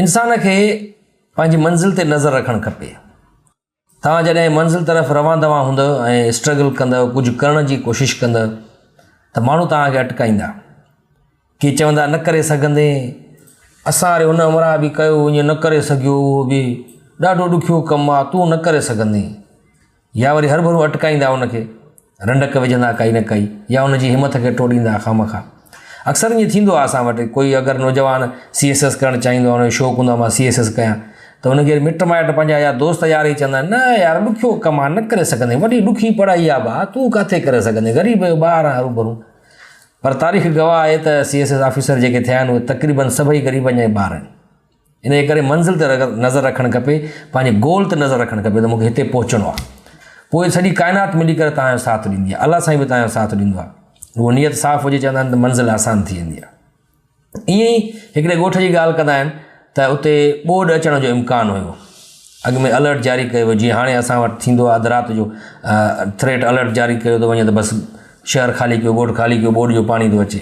انسان کي پنهنجي منزل تي نظر رکڻ کپي. توهان جڏهن منزل طرف روان دوان هوندء ۽ اسٽرگل ڪندء، ڪجهه ڪرڻ جي ڪوشش ڪندء ته ماڻهو توهان کي اٽڪائيندا. ڪي چوندا نه ڪري سگهندين، اسان واري هن همراهه به ڪيو ائين نه ڪري سگهيو، اهو به ڏاڍو ڏکيو ڪم آ، تون نه ڪري سگهندين. يا وري هرڀرو اٽڪائيندا ان کي، رنڊڪ وجهندا ڪائي نه ڪائي يا ان جي همٿ کي ٽوڙيندا خامخواه. اڪثر ائين ٿيندو آهي اسان وٽ، ڪوئي اگر نوجوان سي ايس ايس ڪرڻ چاهيندو آهي، ان جو شوق هوندو آهي مان سي ايس ايس ڪيان، ته ان کي مٽ مائٽ پنهنجا يا دوست يار ئي چوندا آهن، نه يار ڏکيو ڪم آهي، نه ڪري سگهندين، وڏي ڏکي پڙهائي آهي ڀاء، تون ڪاٿي ڪري سگهندين، غريب جو ٻار آهين هروڀرو. پر تاريخ گواهه آهي ته سي ايس ايس آفيسر جيڪي ٿيا آهن، اهي تقريبن سڀئي غريبن جا ئي ٻار آهن. انهيء ڪري منزل تي نظر رکڻ کپي، پنهنجي گول تي نظر رکڻ کپي ته مون کي هتي پهچڻو آهي. پوء سڄي ڪائنات ملي ڪري توهان جو ساٿ ڏيندي آهي. الله سائين به توهان جو ساٿ ڏيندو آهي. رڳو نيت صاف هجي چوندا آهن ته منزل آسان ٿي ويندي آهي. ائين ئي هڪڙي ڳوٺ جي ڳالهه ڪندا آهن ته اتي ٻوڏ اچڻ جو امڪان هيو. اڳ ۾ الرٽ جاري ڪيو ويو جيئن هاڻي اسان وٽ ٿيندو آهي اڌ رات جو ٿريٽ الرٽ جاري ڪيو ٿو وڃي ته بس شهر خالي ڪيو ڳوٺ خالي ڪيو ٻوڏ جو پاڻي ٿو اچي.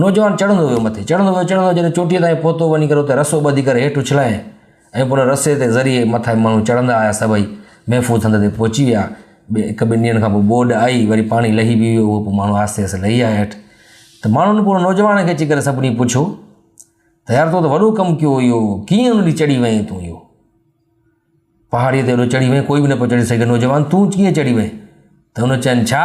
نوجوان چڙهندو ويو مٿي، چڙهندو ويو، چڙهندو ويو، جڏهن چوٽيء تائين پهتو، وڃي ڪري اتي رسو ٻڌي ڪري هيٺ اڇلائي ۽ پوء ان رسي تي ذريعي مٿانهين ماڻهو چڙهندا آيا، سڀئي محفوظ هنڌ تي پهچي ويا. ٻئي هڪ ٻن ڏينهن کان پوء ٻوڏ آئي، وري پاڻي لهي به ويو هو، پوء ماڻهو آهستي آهستي لهي آيا هيٺ، ته ماڻهن پوء ان نوجوان کي اچي ڪري سڀني پڇيو ته يار تو ته وڏو ڪم ڪيو اهو ڪيئن ان ڏي چڙهي وئين تون اهو پهاڙيء تي اڏو چڙهي وئين، ڪوئي به نه پيو چڙهي سگهي، نوجوان تون ڪيئن چڙهي وئين؟ ته هن چين ڇا؟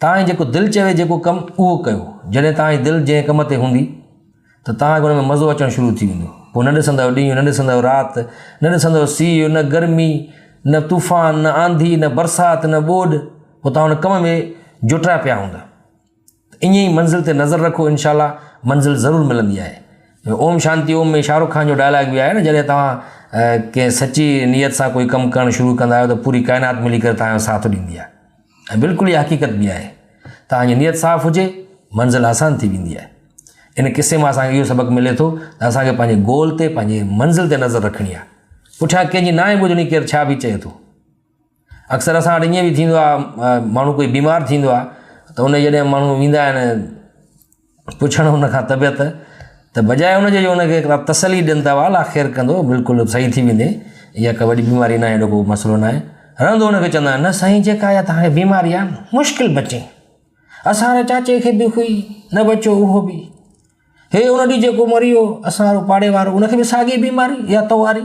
توهان جي جيڪو دل چوي جيڪو ڪم اهو ڪيو. جڏهن توهان جي دل جنهن ڪم تي هوندي ته توهان کي ان ۾ مزو اچڻ شروع ٿي ويندو. پوء نه ڏسندؤ ڏينهن، نه ڏسندؤ رات، نه ڏسندؤ سيء، نه گرمي، نه طوفان، نه آنڌي، نه برسات، نه ٻوڏ، پوء توهان ان ڪم ۾ جوٽيا پيا هوندا. ته ائين ئي منزل تي نظر رکو انشاء الله منزل ضرور ملندي آهي. اوم شانتي اوم ۾ شاهه رخ خان جو ڊائلاگ به آهي نه جڏهن توهان ڪنهن سچي نيت سان ڪوئي ڪم ڪرڻ شروع ڪندا آهيو ته پوري ڪائنات ملي ڪري توهان جو ساٿ ڏيندي آهي. ۽ بلڪل اها حقيقت به آهي. توهان جي نيت صاف هجي، منزل آسان ٿي ويندي آهي. ان قصي مان اسان کي اهو سبق ملي ٿو ته اسان کي پنهنجي گول تي، پنهنجي منزل تي نظر رکڻي آهي. پٺيان ڪنهن جي ناهي ٻڌڻي ڪير ڇا به چئي ٿو. اڪثر اسان وٽ ائين به ٿيندو آهي ماڻهو ڪوئي بيمار ٿيندو آهي ته ان جي جڏهن ماڻهو ويندا آهن پڇڻ ان کان طبيعت ته بجاء ان جي جو ان کي هڪڙا تسلي ڏين ته والا خير ڪندو بلڪل صحيح ٿي ويندي اها ڪا وڏي بيماري ناهي اهڙو ڪو مسئلو ناهي رهندو ان کي چوندا آهن نه سائين جيڪا اها تهانکي بيماري آهي مشڪل بچي اسان واري چاچي کي به هئي نه بچيو اهو به هي ان ڏينهن جيڪو مري ويو اسان وارو پاڙي وارو ان کي به ساڳي بيماري اها تو واري